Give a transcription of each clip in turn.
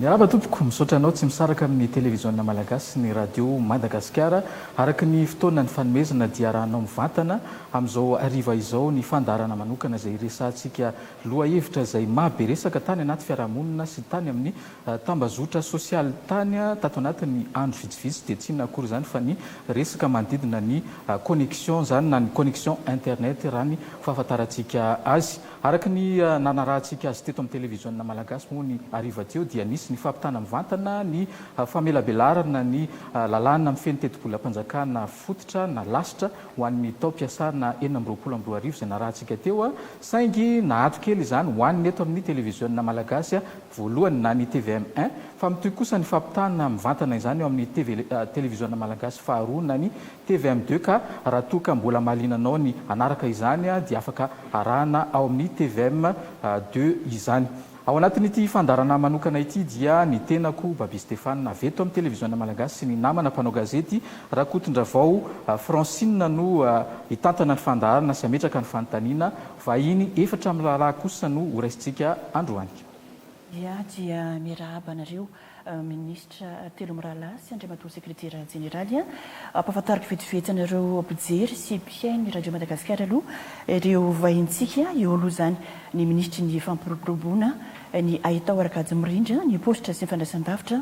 Miarahaba tompoko, misaotra anao tsy misaraka amin'ny televiziona malagasy sy ny radio Madagasikara araka ny fotoana ny fanomezana dia arahanao mivantana amin'izao hariva izao ny fandaharana manokana izay hiresahantsika lohahevitra izay maha be resaka tany anaty fiarahamonina sy tany amin'ny Tambazotra sosialy tany tato anatin'ny andro vitsivitsy dia tsy inona akory izany fa ny resaka manodidina ny connexion izany na ny connexion internet raha ny fahafantarantsika azy. Araka ny nanarahantsika azy teto amin'ny televiziona malagasy moa ny hariva teo dia nisy ny fampitana mivantana ny famelabelarana ny lalàna mifehy ny tetibolam-panjakana fototra na lasitra ho an'ny taom-piasana enina amby roapolo amby roa arivo izay narahantsika teo saingy naato kely izany ho an'ny eto amin'ny televiziona malagasy voalohany na ny tvm un fa mitohy kosa ny fampitahana mivantana izany eo amin'ny TV televiziona malagasy faharoa na ny tvm deux ka raha toa ka mbola mahaliana anao ny hanaraka izany dia afaka arahana ao amin'ny tvm deux izany. Ao anatin'ity fandaharana manokana ity dia ny tenako Babia Stéphane avy eto amin'ny televiziona malagasy sy ny namana mpanao gazety Rakotondravao Francine no hitantana ny fandaharana sy hametraka ny fanontaniana, vahiny efatra miraharaha kosa no horaisintsika androany. Iah dia mirahaba anareo Minisitra telo mirahalahy sy Andriamatoa Sekretera Jeneraly. Ampahafantariko vetivety anareo mpijery sy mpihaino Radio Madagasikara aloha ireo vahintsika. Eo aloha izany ny Minisitry ny Fampiroboroboana ny Haitao Arakajy Mirindra ny Paositra sy ny Fandraisandavitra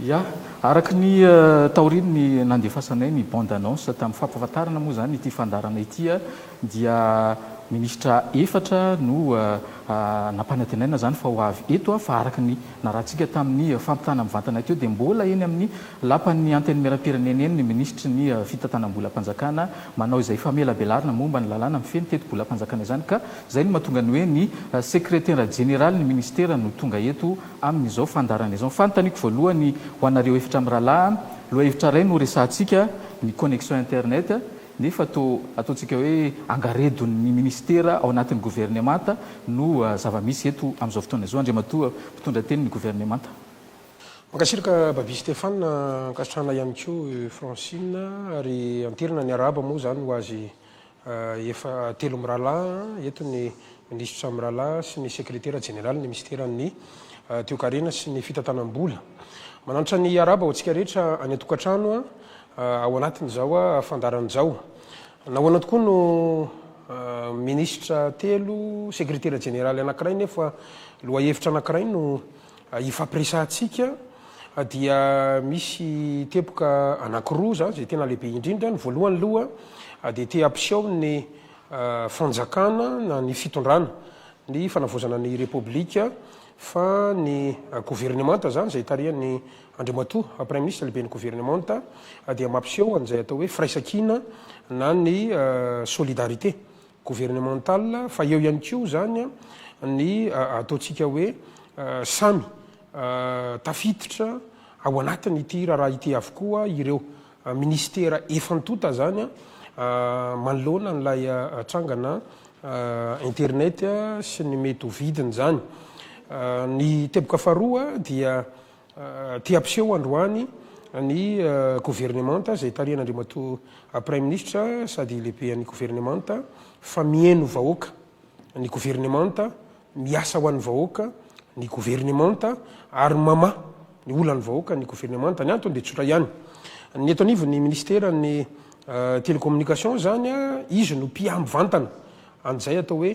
Ya, araka ny taorian'ny nandefasanay ny bande annonce tamin'ny fampahafantarana moa izany ity fandaharana ity dia minisitra efatra no nampanantenaina izany fa ho avy eto fa araka ny narahantsika tamin'ny fampitana mivantana teo dia mbola eny amin'ny lapan'ny Antenimierampirenena eny ny minisitry ny fitantanam-bolam-panjakana manao izay famelabelarana momba ny lalàna mifehy ny tetibolam-panjakana izany ka izay no mahatonga ny hoe ny sekretera jeneralin'ny minisitera no tonga eto Amin'izao fandaharana izao, ny fanontaniako voalohany ho anareo efatra mirahalahy an, lohahevitra iray no resahantsika, ny connexion internet, nefa toa ataontsika hoe angaredon'ny ministera ao anatin'ny governemanta no zava-misy eto amin'izao fotoana izao, Andriamatoa mpitondra tenin'ny governemanta. Mankasitraka Babia Stéphane, ankasitrahana ihany koa i Francine, ary anterina ny arahaba moa izany ho azy Efa telo mirahalahy eto ny Minisitra mirahalahy sy ny Sekretera Jeneralin'ny Minisiteran'ny Toekarena sy ny Fitantanam-bola. Mananatra ny hiarahaba ho antsika rehetra any an-tokantrano ao anatin'izao fandaharana izao. Nahoana tokoa no Minisitra telo, Sekretera Jeneraly anankiray nefa lohahevitra anankiray no Ifampiresahantsika dia misy teboka anankiroa izany izay tena lehibe indrindra. Ny voalohany aloha dia te hampiseho ny fanjakana na ny fitondrana, ny fanavaozana ny Repoblika fa ny governemanta izany izay tarihan'i Andriamatoa Praimi Ministra, Lehiben'ny Governemanta, dia mampiseho an'izay atao hoe firaisankina na ny solidarité. gouvernementale fa eo ihany koa izany ny ataontsika hoe samy tafiditra ao anatin'ity raharaha ity avokoa ireo ministera efa ntonta izany manoloana an'ilay trangana internet sy ny mety ho vidiny izany. Ny teboka faharoa dia Te hampiseho androany ny governemanta izay tarihan'Andriamatoa Praiminisitra sady Lehiben'ny Governemanta fa mihaino vahoaka ny governemanta, miasa ho an'ny vahoaka ny governemanta ary mamaha ny olan'ny vahoaka ny governemanta. Ny antony dia tsotra ihany. Ny eto anivon'ny Minisiteran'ny Télécommunication izany, izy no mpiahy mivantana an'izay atao hoe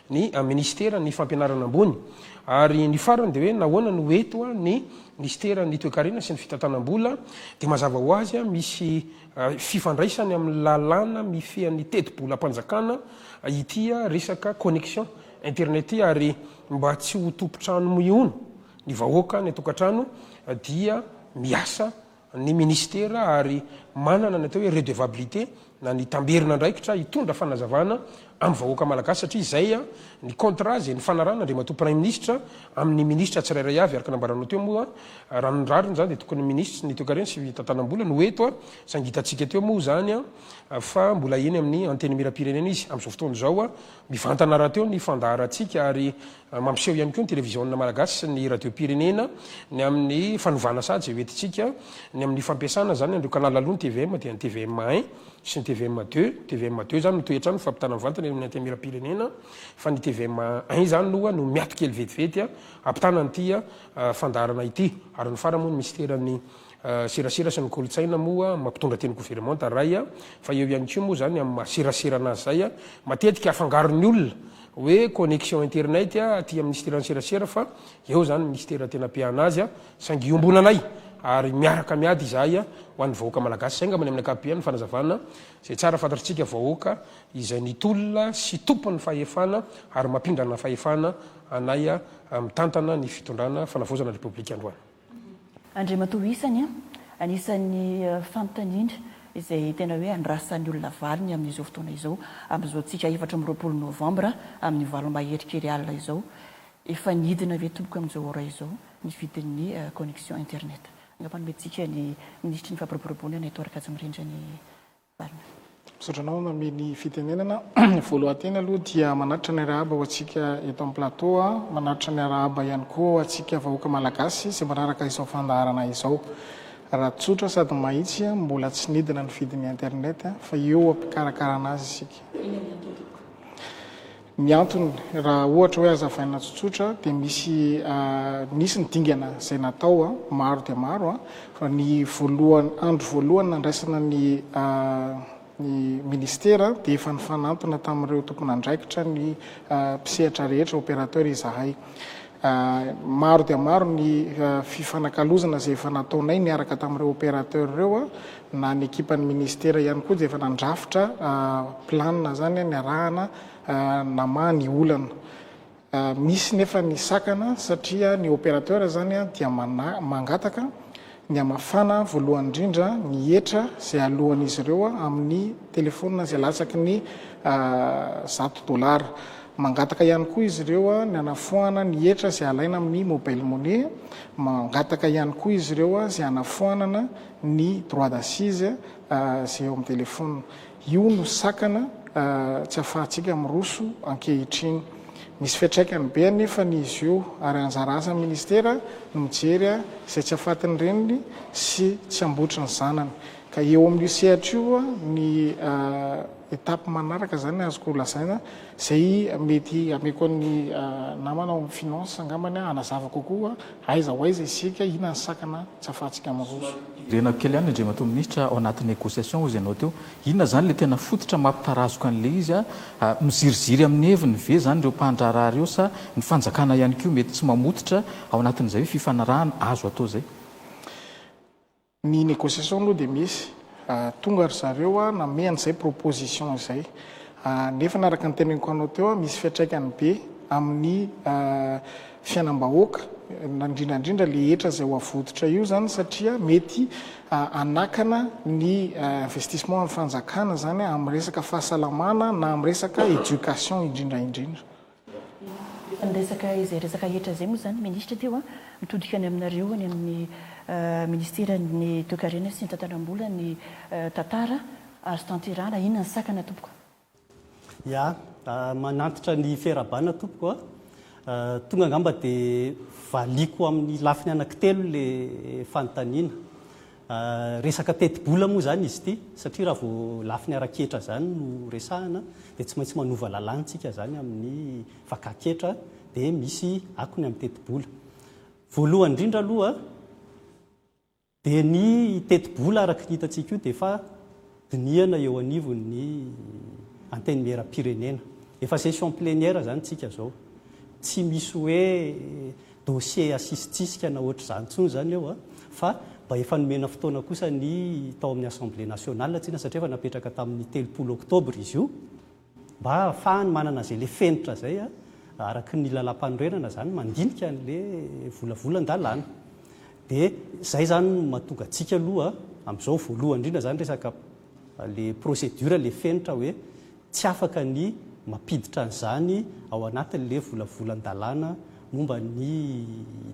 ny minisiteran' ny fampianarana ambony, ary ny farany dia hoe nahoana no eto ny minisiteran' ny toekarena sy ny fitantanam-bola, dia mazava ho azy misy fifandraisany amin' ny lalàna mifehy ny tetibolam-panjakana ity resaka connexion internet ity, ary mba tsy ho tompon-trano mihono ny vahoaka any an-tokantrano dia miasa ny minisitera ary manana ny atao hoe redevabilite na ny tamberina andraikitra hitondra fanazavana amin'ny vahoaka malagasy satria izay ny contrat izay nifanarahana Andriamatoa Praiminisitra amin'ny minisitra tsirairay avy araka nambaranao teo moa raha ny rariny izany dia tokony ny minisitry ny toekarena sy fitantanam-bola no eto saingy hitantsika teo moa izany fa mbola eny amin'ny Antenimierampirenena izy amin'izao fotoana izao mivantana rahateo ny fandaharantsika ary Mampiseho ihany koa ny televiziona malagasy sy ny radiom-pirenena ny amin'ny fanovana saha izay ho entintsika ny amin'ny fampiasana izany an'ireo canal aloha ny tvm dia ny tvm un sy ny tvm deux, ny tvm deux izany no toy hatrany ny fampitana mivantana eo amin'ny antenimieram-pirenena fa ny tvm un izany aloha no miato kely vetivety hampitana an'ity fandaharana ity ary ny farany moa ny minisiteran'ny serasera sy ny kolontsaina moa mampitondra teny goveremanta iray fa eo ihany koa moa izany amin'ny maha serasera anazy izay matetika afangaron'ny olona hoe connexion internet aty amin'ny Ministera ny serasera fa eo izany ny Ministera tena apiahana azy a, saingy iombonanay ary miaraka miady izahay ho an'ny vahoaka Malagasy izay angamba ny amin'ny ankapobeny ny fanazavana izay tsara fantatritsika vahoaka izay nitolona sy tompon'ny fahefana ary mampindrana fahefana anay mitantana ny fitondrana fanavaozana ny Repoblika androany. Andriamatoa isany an! Anisan'ny fanontaniana izay tena hoe andrasan'ny olona valiny amin'izao fotoana izao, amin'izao tsika efatra amby roapolo novambra amin'ny valo mahery kely alina izao, efa nidina ve tompoko amin'izao ora izao ny vidin'ny connexion internet? Angamba nomentsika ny minisitry ny fampiroboroboana eto Arakajimirindra ny Misaotra anao mamely fitenenana. Voalohan-teny aloha dia manatitra ny arahaba ho antsika eto amin'ny plateau, manatitra ny arahaba ihany koa ho antsika vahoaka malagasy izay manaraka izao fandaharana izao. Raha tsotra sady mahitsy, mbola tsy nidina ny vidin'ny internet fa eo am-pikarakarana azy isika. Ny antony, raha ohatra hoe hazavaina tsotsotra, dia misy nisy ny dingana izay natao maro dia maro, fa ny voalohany, andro voalohany nandraisana ny ny Ministera dia efa nifanantona tamin'ireo tompon'andraikitra ny mpisehatra rehetra, opérateur, izahay. Maro dia maro ny fifanakalozana izay efa nataonay niaraka tamin'ireo opérateur ireo, na ny ekipan'ny ministera ihany koa dia efa nandrafitra plan izany niarahana namaha ny olana. Misy nefa ny sakana satria ny opérateur izany dia mangataka, Ny hamafana voalohany indrindra ny hetra izay aloan'izy ireo amin'ny telefonina izay latsaky ny zato dolara. Mangataka ihany koa izy ireo ny hanafoanana ny hetra izay alaina amin'ny mobile money. Mangataka ihany koa izy ireo izay hanafoanana ny droit d'assise izay eo amin'ny telefonina. Io no sakana tsy afahantsika miroso ankehitriny. Misy fiantraikany be anefa ny izy io ary anjara asan'ny Ministera ny mijery izay tsy afatin'ny reniny sy tsy ambotry ny zanany. Ka eo amin'io sehatra io ny étape manaraka izany azoko lazaina izay mety hameko an'ny namana ao amin'ny Finances angambany hanazava kokoa. Aiza ho aiza isika? Inona ny sakana tsy ahafahantsika miroso? Renao kely ihany ny Andriamatoa Minisitra ao anaty négociation hozy ianao teo. Inona izany ilay tena fototra mampitarazoka an'ilay izy? Miziriziry amin'ny heviny ve izany ireo mpandraharaha ireo sa ny fanjakana ihany koa mety tsy mamototra ao anatin'izay hoe fifanarahana azo atao izay? Ny negociation aloha dia misy, tonga ry zareo nanome an'izay proposition izay. Nefa ny araka ny teneniko anao teo, misy fiantraikany be amin'ny fiainam-bahoaka, indrindra indrindra ilay hetra izay ho avototra io izany satria mety hanakana ny investissement an'ny fanjakana izany amin'ny resaka fahasalamana na amin'ny resaka education indrindra indrindra. Efa niresaka izay resaka rehetra izay moa izany ny Minisitra teo. Mitodika any aminareo any amin'ny Minisiteran'ny Toekarena sy ny Tantanam-bola ny tantara azo tanterahana. Inona ny sakana tompoko? Ya, manantitra ny fiarahabana tompoko a! Tonga angamba dia valiako amin'ny lafiny anankitelo ilay fanontaniana. Resaka tetibola moa izany izy ity satria raha vao lafiny ara-ketra izany no resahana dia tsy maintsy manova lalàntsika izany amin'ny vakan-ketra dia misy akony amin'ny tetibola. Voalohany indrindra aloha dia ny tetibola araka ny hitantsika io dia efa dinihana eo anivon'ny Antenimieram-pirenena. Efa session plénière izany tsika izao. Tsy misy hoe dossier asisitsisika na ohatr'izany intsony izany eo fa mba efa nomena fotoana kosa ny tao amin'ny Assemblée nationale tsika satria efa napetraka tamin'ny telopolo octobre izy io. Mba hahafahany manana izay le fenitra izay araky ny lalam-panorenana izany mandinika an'le volavolan-dalàna. De izay izany no mahatonga antsika aloha amin'izao voalohany indrindra izany resaka le procédure le fenitra hoe tsy afaka ny mampiditra an'izany ao anatin'le volavolan-dalàna momba ny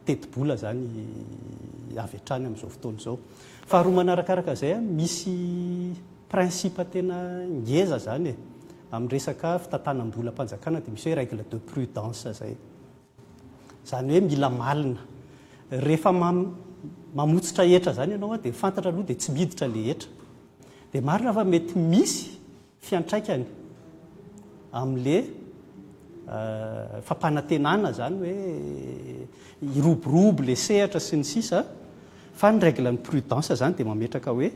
tetibola izany avy hatrany amin'izao fotoana izao. Faharoa manarakaraka izay misy Principe tena ngeza izany e! Amin'ny resaka fitantanam-bolam-panjakana dia misy hoe règle de prudence izay. Izany hoe mila malina. Rehefa mamotsitra hetra izany ianao dia fantatra aloha dia tsy miditra ilay hetra. Dia marina fa mety misy fiantraikany amin'ilay fampanantenana izany hoe hiroborobo ilay sehatra sy ny sisa, fa ny règle ny prudence izany dia mametraka hoe.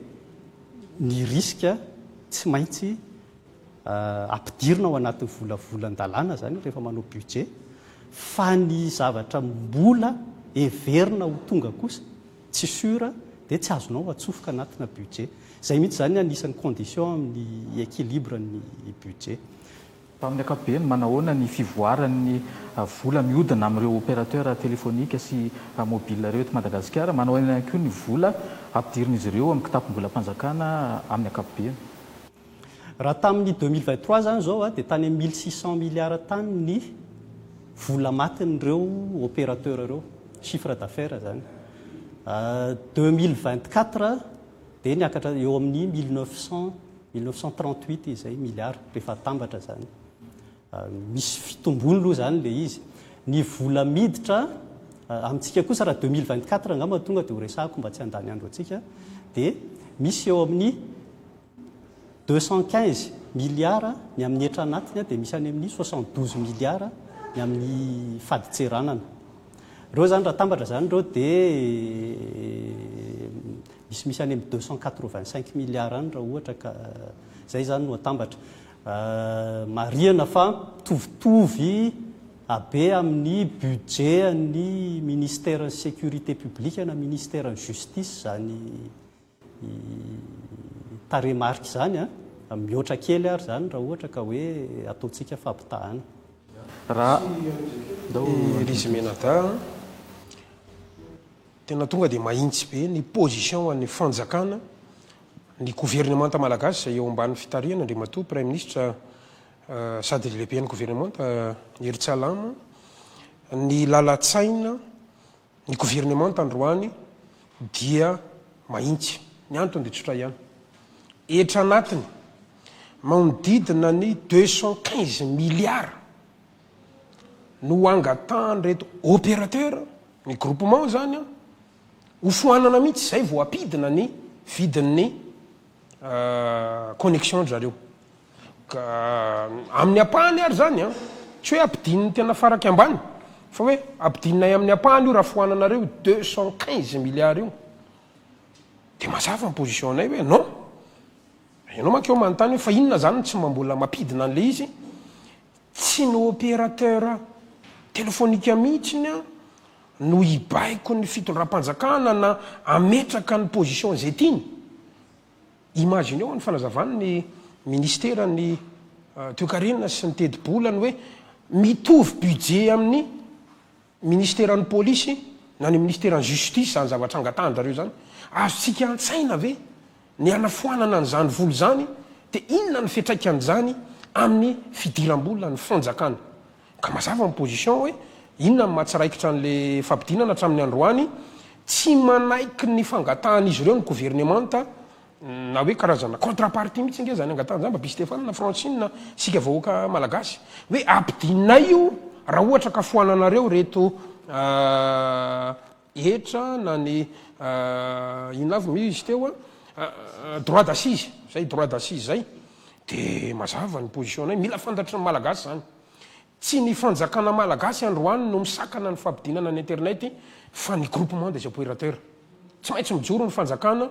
ny risque tsy maintsy ampidirina ao anatin'ny volavolan-dalàna izany rehefa manao budget, fa ny zavatra mbola heverina ho tonga kosa tsy sûr dia tsy azonao atsofoka anatina budget. Izay mihitsy izany anisan'ny condition amin'ny équilibre ny budget. Tamin'ny ankapobeny, manahoana ny fivoaran'ny vola mihodina amin'ireo opérateurs téléphoniques sy mobiles ireo eto Madagasikara? Manahoana ihany koa ny vola ampidirin'izy ireo amin'ny kitapom-bolam-panjakana amin'ny ankapobeny? Raha tamin'ny deux mille vingt trois izany izao dia tany amin'ny mille six cent milliards tany ny vola matin'ireo opérateurs ireo, chiffre d'affaires izany. Deux mille vingt quatre, dia niakatra eo amin'ny mille neuf cent, mille neuf cent trente huit izay milliards rehefa atambatra izany. Misy fitombony aloha izany ilay izy. Ny vola miditra amintsika kosa raha deux mille vingt quatre angamba tonga dia ho resahako mba tsy handany andro antsika dia misy eo amin'ny deux cent quinze milliards ny amin'ny hetra anatiny dia misy any amin'ny soixante douze milliards ny amin'ny fadintseranana. Ireo izany raha atambatra izany ireo dia Misimisy any amin'ny deux cent quatre-vingt-cinq milliards any raha ohatra ka izay izany no atambatra. Marihana fa mitovitovy habe amin'ny budget an'ny Ministeran'ny Sécurité publique na Ministeran'ny Justice izany tarehimarika izany, mihoatra kely ary izany raha ohatra ka hoe ataontsika fampitahana. Raha i Rizimenada an! Tena tonga dia mahintsy be ny position an'ny fanjakana, ny governemanta malagasy izay eo ambany fitarihana Andriamatoa Praiminisitra sady lehiben'ny governemanta Hery Tsalama, ny lalan-tsaina ny governemanta androany dia mahintsy. Ny antony dia tsotra ihany, hetra anatiny maonodidina ny deux cent quinze milliards. no hangatahan'ireto opérateur ny groupement izany ho foanana mihitsy izay vao hampidina ny vidin'ny connexion ry zareo. Ka amin'ny ampahany ary izany an, tsy hoe hampidininy tena faraky ambany fa hoe hampidinay amin'ny ampahany io raha foananareo io deux cent quinze milliards io. Dia mazava ny position-nay hoe non. Ianao manko eo manontany hoe fa inona izany no tsy mba mbola mampidina an'ilay izy? Tsy ny opérateur téléphonique mihitsiny no hibaiko ny fitondram-panjakana na hametraka ny position izay tiany. Imagineo ny fanazavan' ny Minisiteran' ny Toekarena sy ny Tetibola ny hoe mitovy budget amin' ny. Ministeran'ny Polisy na ny Ministeran'ny Justice izany zavatra angatahandrareo izany? Azontsika antsaina ve ny hanafoanana an'izany vola izany dia inona ny fiatraikan'izany amin'ny fidiram-bola ny Fanjakana? Ka mazava ny position hoe inona ny mahatsiraikitra an'ilay fampidinana hatramin'ny androany? Tsy manaiky ny fangatahan'izy ireo ny Governemanta Na hoe karazana contrapartie mihitsy ange zany angatahan'i Jamba By Stefana na Francine isika vahoaka malagasy hoe ampidinay io raha ohatra ka foananareo ireto hetra na ny inona avy moa izy teo droit d'assise zay droit d'assise zay dia mazava ny position-nay mila fantatry ny malagasy zany. Tsy ny fanjakana malagasy androany no misakana ny fampidinana ny internet fa ny groupement des opérateurs. Tsy maintsy mijoro ny fanjakana,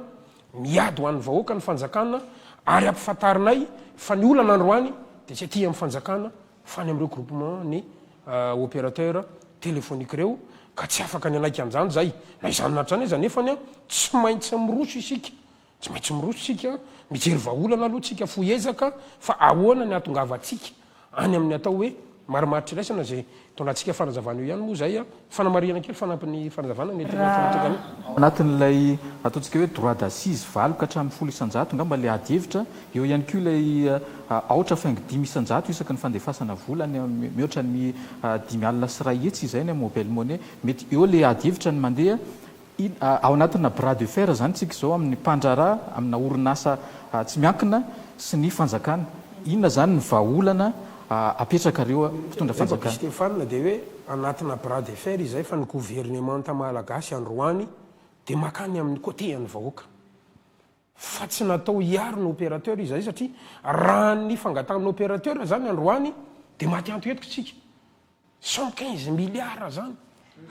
miady ho an'ny vahoaka ny fanjakana ary ampifantarinay fa ny olana androany dia tsy aty amin'ny fanjakana fa any amin'ireo groupement ny opérateur téléphonique ireo ka tsy afaka ny hanaika an'izany izay. Na izany na izany aza nefany tsy maintsy miroso isika Tsy maintsy miroso isika, mijery vahaolana aloha isika, fohy ezaka fa ahoana ny hahatongavantsika any amin'ny atao hoe marimaritra iraisana izay itondratsika fanazavana eo ihany moa izay fanamarihana kely fanampin'ny fanazavana mety ho efa natokan'ny Anatin'ilay ataontsika hoe droit d'assise valo ka hatramin'ny folo isan-jato angamba ilay adihevitra, eo ihany koa ilay aotra faingo dimy isan-jato isaky ny fandefasana vola any amin'ny mihoatra ny dimy alina sy iray hetsy izay any amin'ny mobile money, mety eo ilay adihevitra ny mandeha Ao anatina bras de fer izany isika izao amin'ny mpandraharaha, amina orinasa tsy miankina sy ny fanjakana. Inona izany ny vahaolana apetrakareo mpitondra fanjakana? Revako Stefana dia hoe anatina bras de fer izay fa ny governemanta malagasy androany dia makany amin'ny côté an'ny vahoaka. fa tsy natao hiaro ny opérateur izahay satria raha ny fangatahan'ny opérateur izany androany dia maty anto eto isika. Cent quinze milliards izany,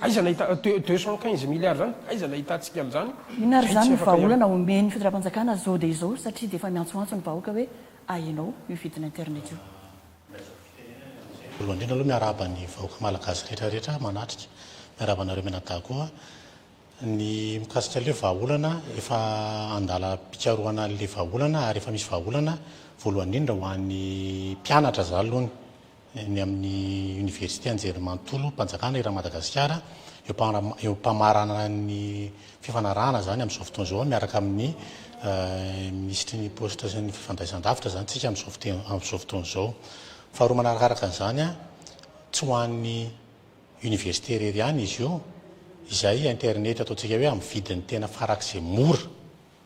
aiza nahita, deux cent quinze milliards izany, aiza nahitantsika an'izany, Inona ary izay izany tsy ny afaka hiaro. vahaolana omen'ny fitondram-panjakana izao dia izao satria dia efa miantsoantso ny vahoaka hoe ahenao io vidina internet io. Voalohany indrindra aloha miarahaba ny vahoaka malagasy rehetra rehetra manatrika. Miarahaba anareo mianadahy koa. Ny mikasika ilay vahaolana, efa an-dalam-pikarohana ilay vahaolana ary efa misy vahaolana, voalohany indrindra ho an'ny mpianatra za aloha ny ny amin'ny Oniversite Anjerimanontolom-panjakana eran'i Madagasikara, eo am-pamaranana ny fifanarahana izany amin'izao fotoana izao miaraka amin'ny Minisitry ny Paositra sy ny Fifandraisandavitra izany isika amin'izao fotoana izao. Faharoa manarakaraka an'izany, tsy ho an'ny Université irery ihany izy io izay internet ataontsika hoe amin'ny vidiny tena farak'izay mora,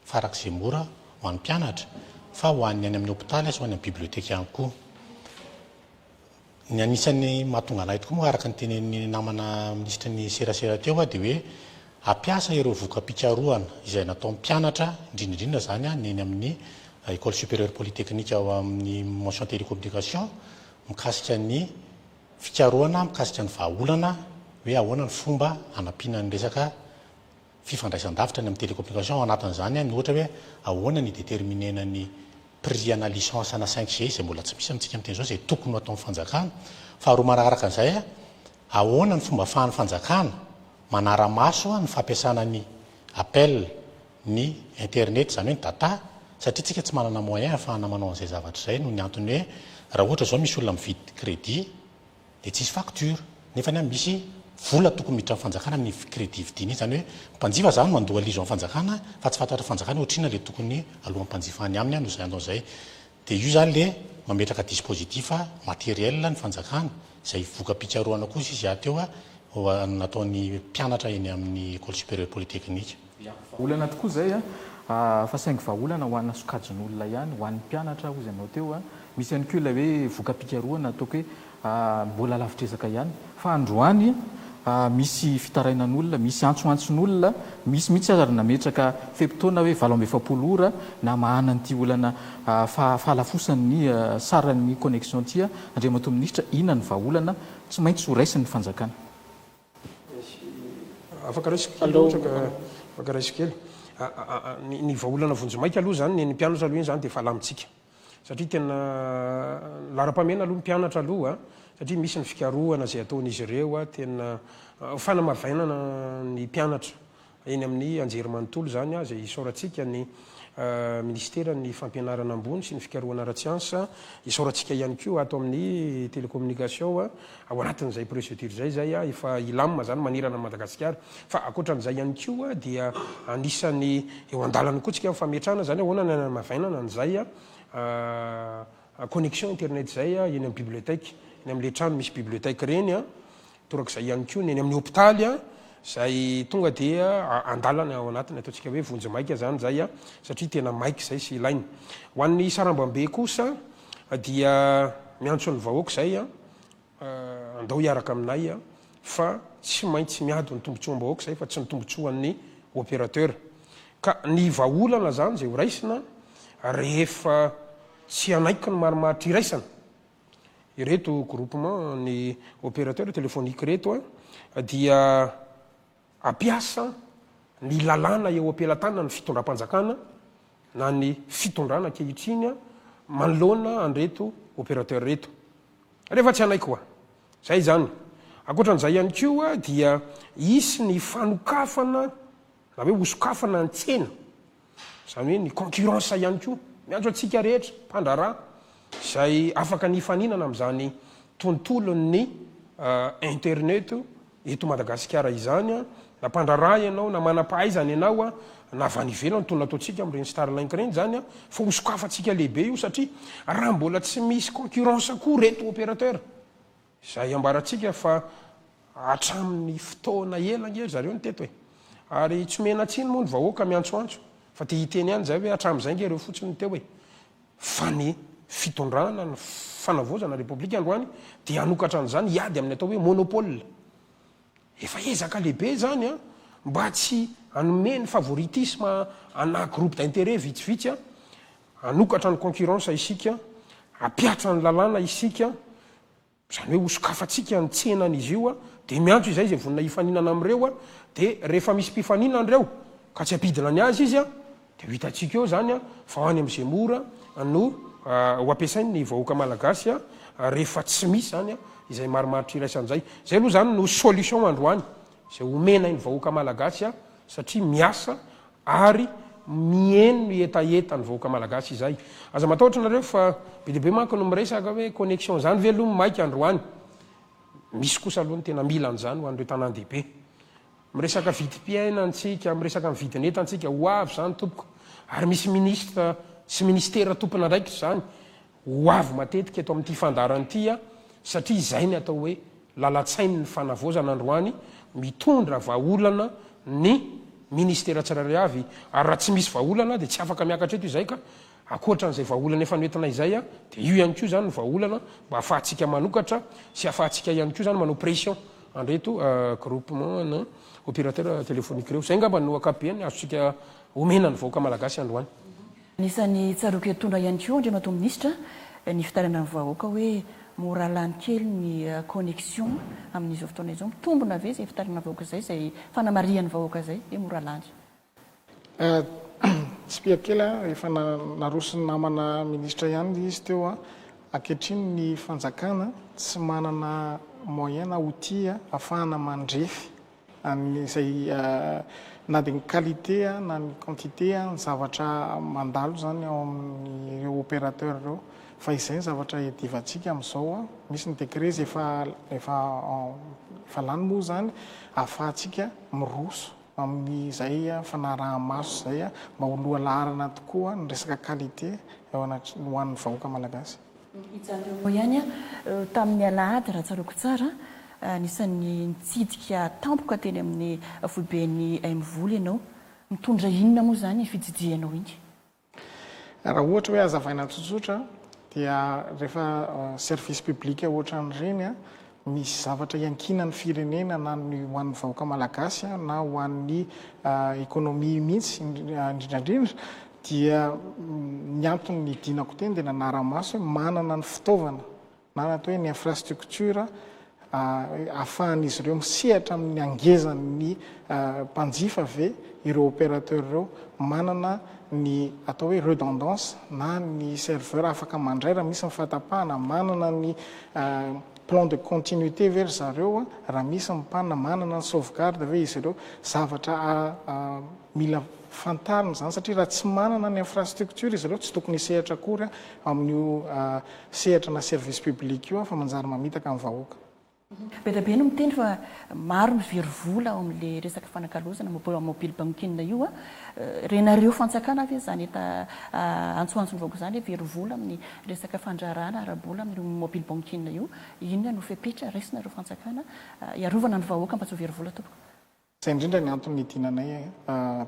farak'izay mora ho an'ny mpianatra fa ho an'ny any amin'ny hopitaly sy ho any amin'ny biblioteka ihany koa. Ny anisan'ny mahatonga an'ahy tokoa moa araka ny tenenin'ny namana minisitry ny serasera teo dia hoe hampiasa ireo voka-pikarohana izay nataon'ny mpianatra indrindra indrindra izany ny eny amin'ny Ecole Supérieure Polytechnique ao amin'ny Mention Télécommunication mikasika ny Fikarohana mikasika ny vahaolana hoe ahoana ny fomba hanampiana ny resaka fifandraisan-davitra ny amin'ny télécommunication, ao anatin'izany ny ohatra hoe ahoana ny hi-déterminer-na ny prix ana licence ana cinq G izay mbola tsy misy amintsika amin'ny teny izao izay tokony ho ataon'ny fanjakana. Faharoa manaraka an'izay, ahoana ny fomba ahafahan'ny fanjakana manara-maso ny fampiasana ny appel, ny internet izany hoe ny data satria tsika tsy manana moyen ahafahana manao an'izay zavatra izay noho ny antony hoe raha ohatra izao misy olona mividy crédit dia tsisy facture nefany an misy vola tokony miditra amin'ny fanjakana amin'iny crédit vidiana iny izany hoe mpanjifa izany no andoha lizo amin'ny fanjakana fa tsy fantatr'ny fanjakana hoe ohatr'inona ilay tokony alohan'ny mpanjifa any aminy an no izay andao izay dia io izany ilay mametraka dispositif matériel ny fanjakana izay voka-pikarohana kosa izy aty eo ho an'ny nataon'ny mpianatra eny amin'ny ecole supérieure polytechnique. Olana tokoa izay fa saingy vahaolana ho ana sokajin'olona ihany, ho an'ny mpianatra hoy izy ianao teo. Misy ihany koa ilay hoe voka-pikarohana ataoko hoe mbola lavitr'ezaka ihany fa androany misy fitarainan'olona, misy antsoantson'olona, misy mihitsy aza ary nametraka fe-potoana hoe valo amby efapolo ora namahana an'ity olana fahalafosan'ny saran'ny connexion ity. Andriamatoa Minisitra, inona ny vahaolana tsy maintsy ho raisin'ny fanjakana? Afaka resiko kely ohatra ka, afaka resiko kely. Ny vahaolana vonjimaika aloha izany, ny an'ny mpianatra aloha iny izany dia efa alamintsika. Satria tena laharam-pahamehana aloha ny mpianatra aloha, satria misy ny fikarohana izay ataon'izy ireo tena fanamavainana ny mpianatra Eny amin'ny anjerimanontolo izany aza, isaorantsika ny Minisiteran'ny Fampianarana Ambony sy ny Fikarohana Ara-tsiansa, isaorantsika ihany koa ato amin'ny Télécommunication, ao anatin'izay procédure izay izay efa hilamina izany manerana an'i Madagasikara. Fa ankoatran'izay ihany koa dia anisan'ny eo an-dalana koa tsika ny fametrahana izany ahoana ny any an'Avainana an'izay connexion internet izay eny amin'ny bibliothèque, eny amin'ilay trano misy bibliothèque ireny. Torak'izay ihany koa ny eny amin'ny hopitaly izay tonga dia andalana ao anatiny, ataontsika hoe vonjimaika izany izay satria tena maika izay sy ilaina. Ho an'ny sarambambe kosa dia miantso ny vahoaka izay, andao hiaraka aminay fa tsy maintsy miady ny tombontsoam-bahoaka izay fa tsy ny tombontsoan'ny opérateur. Ka ny vahaolana izany izay horaisina rehefa tsy hanaiky ny marimaritra iraisana. Ireto groupement ny opérateur téléphonique ireto a, dia hampiasa ny lalàna eo am-pelatanan'ny fitondram-panjakana na ny fitondrana ankehitriny manoloana an'ireto opérateur ireto. Rehefa tsy hanaiky hoa. Izay izany. Ankoatra an'izay ihany koa dia hisy ny fanokafana na hoe hosokafana ny tsena. izany hoe ny concurrence ihany koa, miantso antsika rehetra mpandraharaha izay afaka ny hifaninana amin'izany tontolon'ny internet eto Madagasikara izany, na mpandraharaha ianao, na manam-pahaizana ianao, na avy any ivelany toy ny nataontsika amin'ireny Starlink ireny izany, fa hosokafantsika lehibe io satria raha mbola tsy misy concurrence koa ireto opérateurs Izay ambarantsika fa hatramin'ny fotoana ela ange ry zareo no teto e! Ary tsy omena tsiny moa ny vahoaka miantsoantso fa te hiteny ihany izay hoe hatramin'izay ange ireo fotsiny no teo e! Fa ny fitondrana, ny fanavaozana ny Repoblika androany dia hanokatra an'izany hiady amin'ny atao hoe monopole. Efa ezaka lehibe izany an! Mba tsy hanome ny favoritisme ana groupe d'intérêt vitsivitsy an! Hanokatra ny concurrence isika, hampihatra ny lalàna isika, izany hoe hosokafantsika ny tsenan'izy io, dia miantso izay izay vonona hifaninana amin'ireo, dia rehefa misy mpifaninana ireo ka tsy hampidina ny azy izy, dia ho hitantsika eo izany fa ho any amin'ny Zemmour no ho ampiasain'ny vahoaka malagasy rehefa tsy misy izany izay marimaritra iraisana izay. Izay aloha izany no solution androany izay homenain'ny vahoaka malagasy satria miasa Ary miheno ny hetahetan'ny vahoaka malagasy izay. Aza matahotra nareo fa be dia be manko no miresaka hoe connexion zany ve aloha maika androany? Misy kosa aloha ny tena mila an'izany ho an'ireo tanàn-dehibe. Miresaka vidim-piainana tsika, miresaka ny vidin'entan-tsika, ho avy izany tompoko. Ary misy ministra sy ministera tompon'andraikitra izany. Ho avy matetika eto amin'ity fandaharana ity aho satria izay ny atao hoe lalan-tsain'ny fanavaozana androany, mitondra vahaolana ny Ministera tsirairay avy ary raha tsy misy vahaolana dia tsy afaka miakatra eto izay ka ankoatran'izay vahaolana efa noentinay izay dia io ihany koa izany ny vahaolana mba afahantsika manokatra sy afahantsika ihany koa izany manao pression an'ireto groupement na opérateur téléphonique ireo. Izay angamba no ankapobeny azontsika omena ny vahoaka malagasy androany. Anisan'ny tsaroako hitondra ihany koa Andriamatoa Minisitra ny fitarainan'ny vahoaka hoe mora lany kely ny connexion amin'izao fotoana izao. Mitombina ve izay fitarainan'ny vahoaka izay, izay fanamarihan'ny vahoaka izay hoe mora lany? Tsipihako kely an, efa naroson'ny namana Minisitra ihany ilay izy teo. Ankehitriny ny fanjakana tsy manana moyen na outil ahafahana mandrefy. izay na dia ny qualité na ny quantité ny zavatra mandalo izany ao amin'ireo opérateur ireo fa izay ny zavatra iadivantsika amin'izao misy ny décret izay efa efa efa lany moa izany ahafahantsika miroso amin'izay fanaraha-maso izay mba ho lohalaharana tokoa ny resaka qualité eo anatr- ho an'ny vahoaka malagasy. Hijanona eo ihany aho. Tamin'ny alahady, raha tsaroako tsara, anisan'ny nitsidika tampoka teny amin'ny foiben'ny MVOL ianao. Mitondra inona moa izany fitsidihanao iny? Raha ohatra hoe hazavaina tsotsotra dia rehefa service public ohatran'ireny Misy zavatra iankinan'ny firenena na ny ho an'ny vahoaka malagasy na ho an'ny économie mihitsy indrindrandrindra dia ny antony nidinako teny dia nanara-maso hoe manana ny fitaovana na atao hoe ny infrastructure ahafahan'izy ireo misehatra amin'ny hangezan'ny mpanjifa ve ireo opérateur ireo manana ny atao hoe redondance na ny serveur afaka mandray raha misy ny fahatapahana, manana ny Plan de continuité ve ry zareo raha misy ny panne? Manana ny sauvegarde ve izy ireo? Zavatra mila fantarina izany satria raha tsy manana ny infrastructure izy ireo tsy tokony hisehatra akory amin'io sehatra na service public io fa manjary mamitaka ny vahoaka. Be dia be no miteny fa maro ny very vola ao amin'ilay resaka fanakalozana mobile banking io. Renareo fantsakana ve izany efa antsoantson'ny vahoaka izany hoe very vola amin'ny Resaka fandrarana ara-bola amin'io mobile banking io, inona no fepetra raisinareo fanjakana hiarovana ny vahoaka mba tsy ho very vola tompoko? Zay indrindra ny antony nidinanay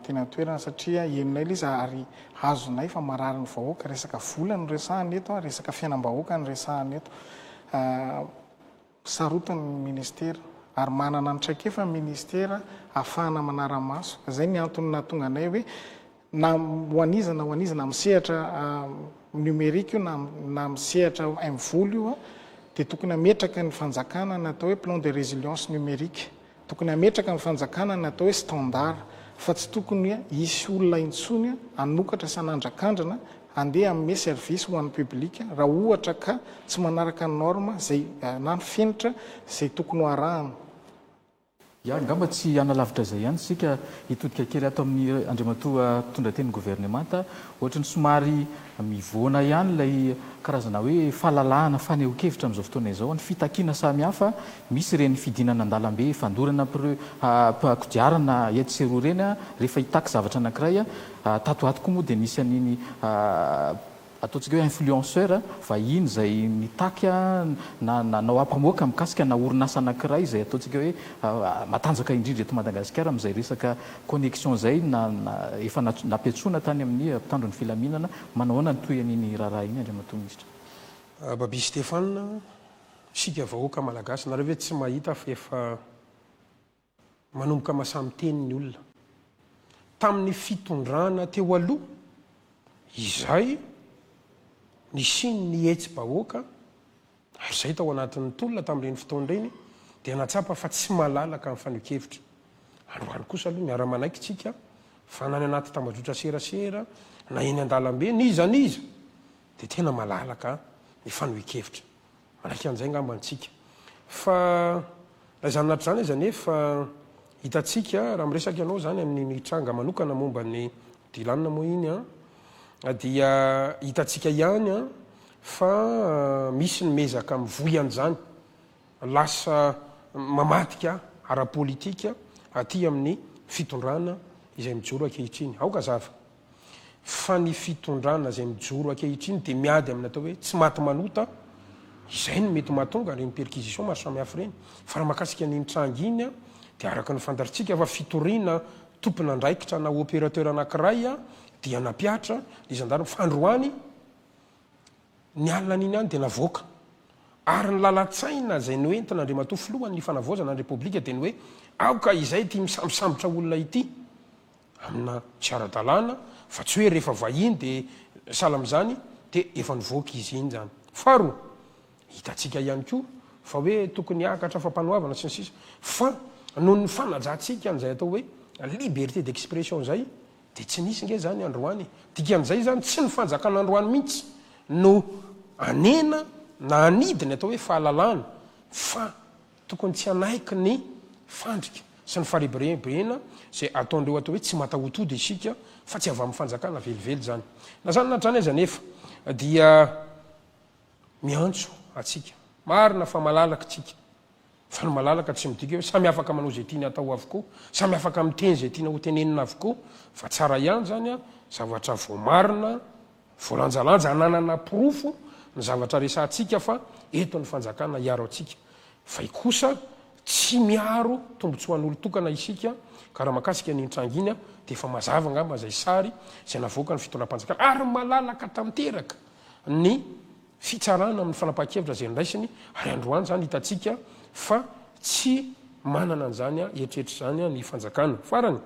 teny an-toerana satria henonay ilay izy ary azonay fa marary ny vahoaka, resaka vola no resahana eto, resaka fiainam-bahoaka no resahana eto. Sarotiny ny Ministera ary manana ny traikefa ny Ministera ahafahana manara-maso. Izay ny antony nahatonga anay hoe na ho an'iza na ho an'iza, na amin'ny sehatra numérique io na na amin'ny sehatra mvol io dia tokony hametraka ny fanjakana ny atao hoe plan de résilience numérique. Tokony hametraka ny fanjakana ny atao hoe standard fa tsy tokony hisy olona intsony hanokatra sy hanandrakandrana handeha hanome service ho an'ny public raha ohatra ka tsy manaraka ny norme izay na ny fenitra izay tokony ho arahana. Ya, angamba tsy hanalavitra izay ihany isika, hitodika kely ato amin'ny Andriamatoa mpitondrateny ny governemanta, ohatry ny somary. Mivoana ihany ilay karazana hoe fahalalahana fanehoan-kevitra amin'izao fotoana izao, ny fitakiana samihafa, misy ireny fidinana an-dalambe fandorana mpireo kodiarana etsy sy eroa ireny rehefa hitaky zavatra anankiray, tato ho ato koa moa dia nisy an'iny ataontsika hoe influenceur vahiny izay nitaky na nanao ampamoaka mikasika na orinasa anankiray izay ataontsika hoe matanjaka indrindra eto Madagasikara amin'izay resaka Connexion izay na efa nampiantsoana tany amin'ny mpitandro ny filaminana, manao ahoana ny tohiny iny raharaha iny Andriamatoa Minisitra? Babis Stéphane, isika vahoaka Malagasy nareo ve tsy mahita fa efa manomboka masaha miteny ny olona? Tamin'ny fitondrana teo aloha izay nisian'ny hetsi-bahoaka, Ary izahay tao anatin'ny tolona tamin'ireny fotoana ireny dia nahatsapa fa tsy malalaka ny fanehoan-kevitra. Androany kosa aloha miara-manaiky isika fa na any anaty tambajotra serasera na eny an-dalambe n'iza n'iza dia tena malalaka ny fanehoan-kevitra. Manaiky an'izay angamba isika. Fa raha izany anaty izany aza anefa hitantsika raha miresaka ianao izany amin'ny ny tranga manokana momba ny Dylan moa iny an! dia hitantsika ihany an! fa misy ny mezaka mivoy an'izany lasa mamadika ara-politika aty amin'ny fitondrana izay mijoro ankehitriny. Aoka hazava fa ny fitondrana izay mijoro ankehitriny dia miady amin'ny atao hoe tsy maty manota, izay no mety mahatonga ireny perquisition maro samihafa ireny. Fa raha mahakasika an'iny tranga iny an! dia araka ny fantatrtsika fa fitoriana tompon'andraikitra na opérateur anankiray dia nampihatra ny zandary fandroany ny alinany iny ihany dia navoaka ary ny lalan-tsaina izay noentina Andriamatoa Filohan' ny Fanavaozana ny Repoblika dia ny hoe aoka izay ity misambosambotra olona ity amina tsy ara-dalàna fa tsy hoe rehefa vahiny dia sahala amin'izany dia efa nivoaka izy iny izany. Faharoa. Hitantsika ihany koa fa hoe tokony hiakatra fampanoavana sy ny sisa fa noho ny fanajantsika an'izay atao hoe liberté d'expression izay dia tsy nisy nge izany androany e! Dikan'izay izany tsy ny fanjakana androany mihitsy no hanena na hanidy ny atao hoe fahalalana fa tokony tsy hanaiky ny fandrika sy ny farebirebena izay ataon'ireo atao hoe tsy matahotody isika fa tsy avy amin'ny fanjakana velively izany. Na izany na hatrany aza anefa dia. miantso antsika. Marina fa malalaka isika, fa ny malalaka tsy midika hoe samy afaka manao izay tiany hatao avokoa, samy afaka miteny izay tiana hotenenina avokoa, fa tsara ihany izany zavatra voamarina, voalanjalanja, ananana porofo ny zavatra resahantsika fa eto ny fanjakana hiaro antsika. Fay kosa tsy miaro tombontsoan'olon-tokana isika, ka raha makasika an'iny tranga iny dia efa mazava angamba izay sary izay navoakan'ny fitondram-panjakana, ary malalaka tanteraka. ny fitsarana amin'ny fanapahan-kevitra izay noraisiny ary androany izany hitantsika fa tsy manana an'izany eritreritra izany ny fanjakana. Farany,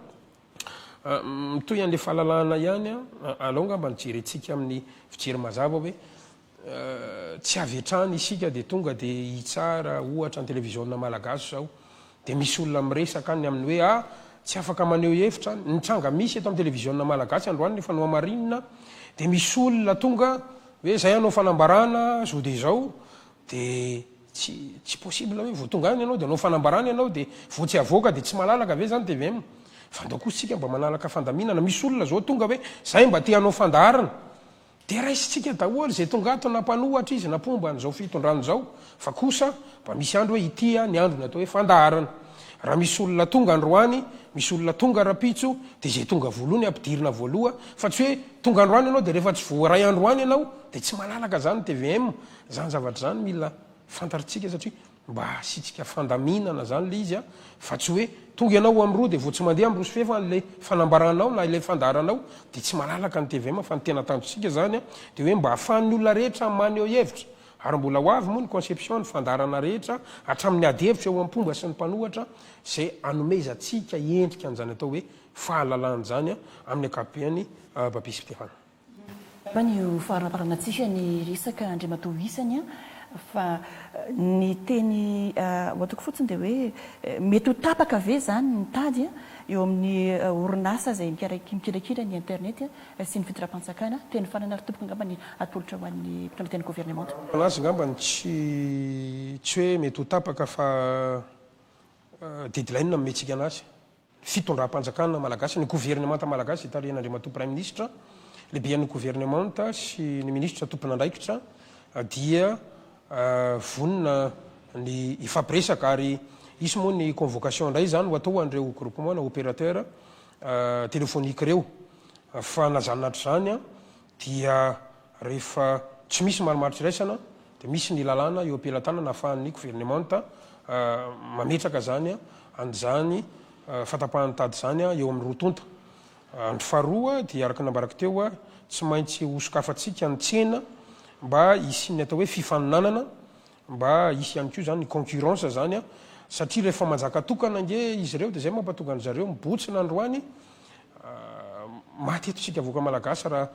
mitohy an'ilay fahalalahana ihany, alao angamba ny jerentsika amin'ny fijery mazava hoe tsy avy hatrany isika dia tonga dia hitsara ohatra ny televiziona malagasy izao. Dia misy olona miresaka any amin'ny hoe ah, tsy afaka maneho hevitra, ny tranga misy eto amin'ny televiziona malagasy androany rehefa nohamarinina dia misy olona tonga hoe zay hanao fanambarana zao dia zao dia tsy tsy possible hoe vao tonga any ianao dia hanao fanambarana ianao dia vao tsy avoaka dia tsy malalaka ve zany tvm fa andao kosa tsika mba manalaka fandaminana misy olona zao tonga hoe zay mba te hanao fandaharana Dia raisintsika daholo izay tonga ato na mpanohatra izy na mpomba an'izao fitondrana izao fa kosa mba misy andro hoe ity ny androny atao hoe fandaharana. Raha misy olona tonga androany, misy olona tonga rapitso dia izay tonga voalohany ampidirina voaloha fa tsy hoe tonga androany ianao dia rehefa tsy voaray androany ianao dia tsy malalaka izany tvm. Izany zavatra izany mila fantarintsika satria. Mba hasitrika fandaminana zany ilay izy an, fa tsy hoe tonga ianao ho an'roa dia vao tsy mandeha amin'roa sy fefy an ilay fanambaranao na ilay fandaharanao, dia tsy malalaka ny tvm fa ny tena tanjontsika zany an dia hoe mba hahafahan'ny olona rehetra maneho hevitra ary mbola ho avy moa ny conception ny fandaharana rehetra hatramin'ny ady hevitra eo am pomba sy ny mpanohatra izay hanomezantsika endrika an'izany atao hoe fahalalana izany an amin'ny ankapobeany babesy mpihana. Angambany io faharaparana tsika ny resaka Andriamatoa isany an, fa ny teny ho ataoko fotsiny dia hoe mety ho tapaka ve izany ny tady eo amin'ny orinasa izay mikirakira ny internet sy ny fitondram-pantsakana teny farany ary tompoko angamba ny atolotra ho an'ny mpitondra tena governemanta. Ho an'azy angambany tsy tsy hoe mety ho tapaka fa deadline no hametsiaka an'azy. fitondram-panjakana malagasy, ny governemanta malagasy hitarihan'Andriamatoa Praiminisitra, Lehiben'ny Governemanta sy ny Minisitra tompon'andraikitra dia vonona ny hifampiresaka ary hisy moa ny convocation indray izany ho atao ho an'ireo groupement na opérateur téléphonique ireo. Fanazana hatr'izany dia rehefa tsy misy marimaritra iraisana dia misy ny lalàna eo am-pelatanana ahafahan'ny governemanta mametraka izany an'izany fahatapahan'ny tady izany eo amin'ny roa tonta andro faharoa dia araka ny nambarako teo tsy maintsy hosokafantsika ny tsena mba hisian'ny atao hoe fifaninanana Mba hisy ihany koa izany ny concurrence izany an! Satria rehefa manjaka tokana ange izy ireo dia izay mampatonga an-dry zareo mibotsina androany maty eto isika vahoaka malagasy raha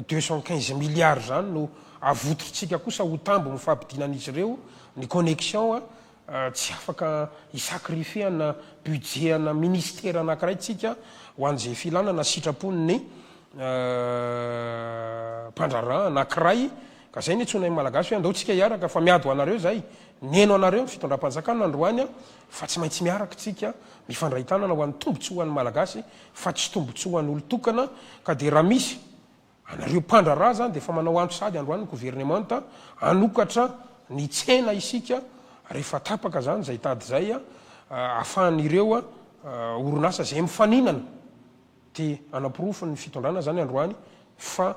deux cent quinze milliards izany no avotitr'tsika kosa ho tambo amin'ny fahabidinan'izy ireo ny connexion an! Tsy afaka hi-sacrifier ana budget ana ministera anankiray tsika ho an'izay filana na sitrapon'ny mpandraharaha anankiray Ka zay no itsoina ny malagasy hoe andao tsika hiaraka fa miady ho anareo zay, neno anareo ny fitondram-panjakana androany fa tsy maintsy miaraka tsika mifandray tanana ho an'ny tombotsoa ho an'ny malagasy fa tsy tombotsoa ho an'olon-tokana ka dia raha misy anareo mpandraharaha zany dia efa manao antso sahady androany ny governemanta hanokatra ny tsena isika rehefa tapaka zany zay tady zay ahafahan'ireo orinasa zay mifaninana dia hanaporofo ny fitondrana zany androany fa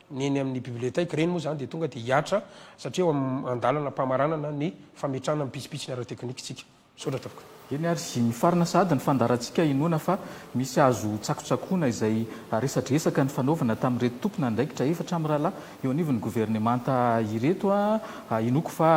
Ny eny amin'ny biblioteka, ireny moa izany dia tonga dia hihatra satria eo amin'ny andalana am-pamaranana ny fametrahana ny pitsopitsony ara-teknika isika. Misaotra tompoko. Eny ary mifarana sahady ny fandaharantsika inoana fa misy azo ho tsakotsakoina izay resadresaka nifanaovana tamin'ireto tompon'andraikitra efatra mirahalahy eo anivon'ny governemanta ireto. Inoako fa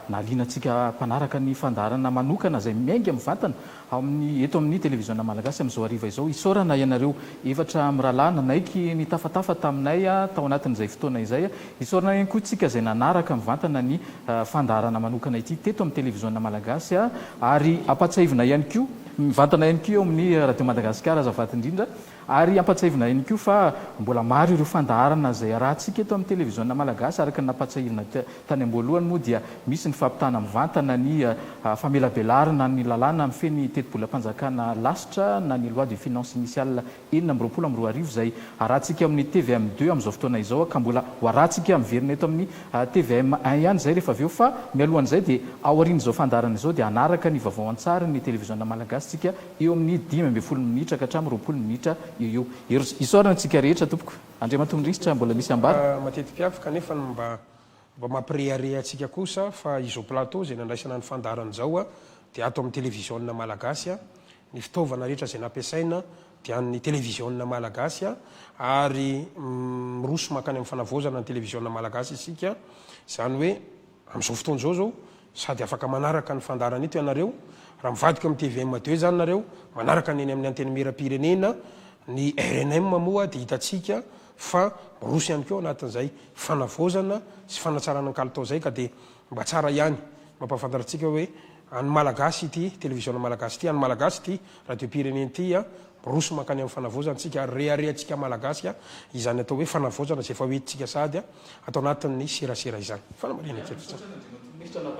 nahaliana antsika mpanaraka ny fandaharana manokana izay miainga mivantana Ao amin'ny eto amin'ny Televiziona Malagasy amin'izao hariva izao. Isaorana ianareo efatra mirahalahy nanaiky nitafatafa taminay tao anatin'izay fotoana izay. Isaorana ihany koa tsika izay nanaraka mivantana ny fandaharana manokana ity teto amin'ny Televiziona Malagasy ary ampatsiahivina ihany koa mivantana ihany koa eo amin'ny Radio Madagasikara azafady indrindra Ary ampatsiahivina ihany koa fa mbola maro ireo fandaharana izay arahantsika eto amin'ny televiziona malagasy, araka ny nampatsiahivina tany am-boalohany moa dia misy ny fampitana mivantana ny famelabelarana ny lalàna mifehy ny tetibolam-panjakana lasitra na ny loi de finances initiale enina amby roapolo amby roa arivo izay arahantsika amin'ny tvm deux amin'izao fotoana izao ka mbola ho arahantsika miverina eto amin'ny tvm un ihany izay rehefa avy eo fa mialohan'izay dia aorian'izao fandaharana izao dia hanaraka ny vaovao an-tsary ny televiziona malagasy tsika eo amin'ny dimy ambin'ny folo minitra ka hatramin'ny roapolo minitra eo eo. Heros, isaorana antsika rehetra tompoko. Andriamatoa Minisitra, mbola misy hambara? Fa mateti-piavy kanefa ny mba mba mampirehareha antsika kosa fa izao plateau izay nandraisana ny fandaharana izao dia ato amin'ny televiziona malagasy, ny fitaovana rehetra izay nampiasaina dia an'ny televiziona malagasy ary miroso mankany amin'ny fanavaozana ny televiziona malagasy isika, izany hoe Amin'izao fotoana izao izao, sady afaka manaraka ny fandaharan'ito ianareo, raha mivadika amin'ny tvm deux izany nareo, manaraka ny eny amin'ny Antenimieram-pirenena, ny rnm moa dia hitantsika fa miroso ihany koa ao anatin'izay fanavaozana sy fanatsarana ny kalitao izay ka dia mba tsara ihany mampahafantatra antsika hoe, An'ny Malagasy ity televiziona Malagasy ity, an'ny Malagasy ity radiom-pirenena ity miroso mankany amin'ny fanavaozantsika ary reharehantsika Malagasy izany atao hoe fanavaozana izay efa ho entintsika sahady ato anatin'ny serasera izany. Fanamarihana kely fotsiny.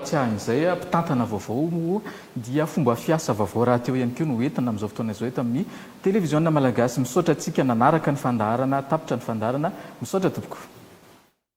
Tsiahin'izay, mpitantana vaovao moa dia fomba fiasa vaovao rahateo ihany koa no entina amin'izao fotoana izao eto amin'ny televiziona Malagasy. Misaotra antsika nanaraka ny fandaharana, tapitra ny fandaharana. Misaotra tompoko.